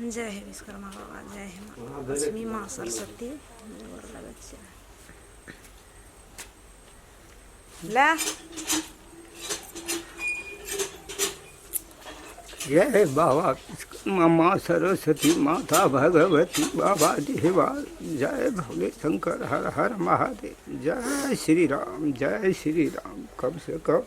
जय हे विश्वकर्मा बाबा जय हे माँ लक्ष्मी माँ सरस्वती गोर लगै छियै ले जय हे बाबा विश्वकर्मा माँ सरस्वती माता भगवती बाबा देवा जय भोले शंकर हर हर महादेव जय श्री राम जय श्री राम कब से कब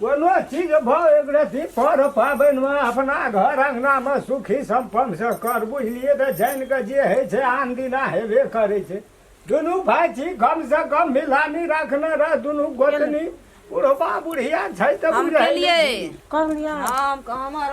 कोनो चीज भाव एक रति पर पाबनिमे अपना घर अङ्गनामे सुखी सम्पन्नसँ कर बुझलियै तऽ जानि कऽ जे होइ छै आन दिना हेबे करै छै दुनू भाय छी कमसँ कम मिलानी राखने रह दुनू गोतनी बुढ़बा बुढ़िया छै तऽ हम बुझै केलियै नहि। कहलियै हम हमर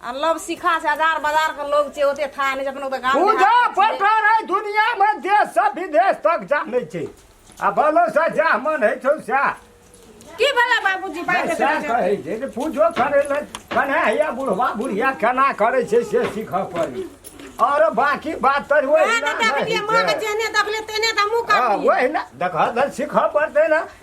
आ लव सिखा छै हजार बाजार के लोग छै ओते था नहि अपन ओते गाम पूजा पठार है दुनिया में देश से विदेश तक जाने छै आ भलो से जा मन है छौ सा की भला बाबूजी बात सा कहे छै जे पूजो करे ले कने हैया बुढ़वा बुढ़िया केना करे छै से सीख पड़ी और बाकी बात तर वही ना देखलिए मां के जेने देखले तेने त मुंह काट ओही ना देख सीख पड़ते ना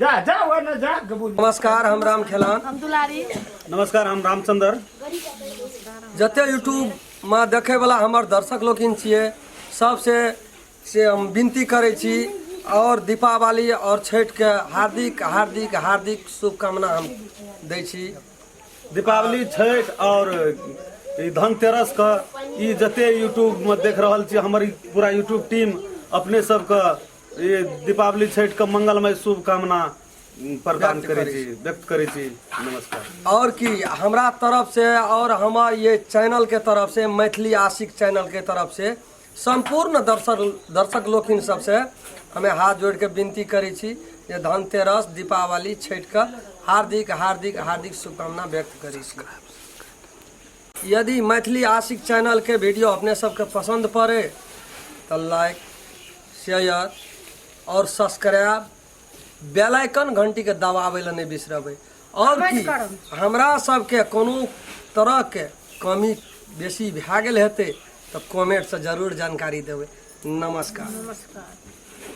जा जा वो ना जा गबू नमस्कार हम राम खेलान हम दुलारी नमस्कार हम रामचंद्र जते यूट्यूब में देखे वाला हमर दर्शक लोकिन छिए सबसे से हम विनती करे छी और दीपावली और छठ के हार्दिक हार्दिक हार्दिक शुभकामना हम दै छी दीपावली छठ और ई धनतेरस के ई जते यूट्यूब में देख रहल छी हमर ई पूरा यूट्यूब टीम अपने सबके ई दीपावली छठि के मंगलमय शुभकामना प्रदान करै छी व्यक्त करै छी नमस्कार आओर की हमरा तरफ से आओर हमर ये चैनल के तरफ से मैथिली आशिक चैनल के तरफ से सम्पूर्ण दर्शक दर्शक लोकिन सबसे हमे हाथ जोड़ के विनती करै छी जे धनतेरस दीपावली छठि के हार्दिक हार्दिक हार्दिक शुभकामना व्यक्त करै छी यदि मैथिली आशिक चैनलके वीडियो अपने सबके पसन्द पड़े तऽ लाइक शेयर आओर सब्सक्राइब बेल आइकन घंटीके दबाबै लए नहि बिसरबै आओर की हमरा सबके कोनो तरहके कमी बेसी भए गेल हेतै तऽ कमेंटसँ जरूर जानकारी देबै नमस्कार नमस्कार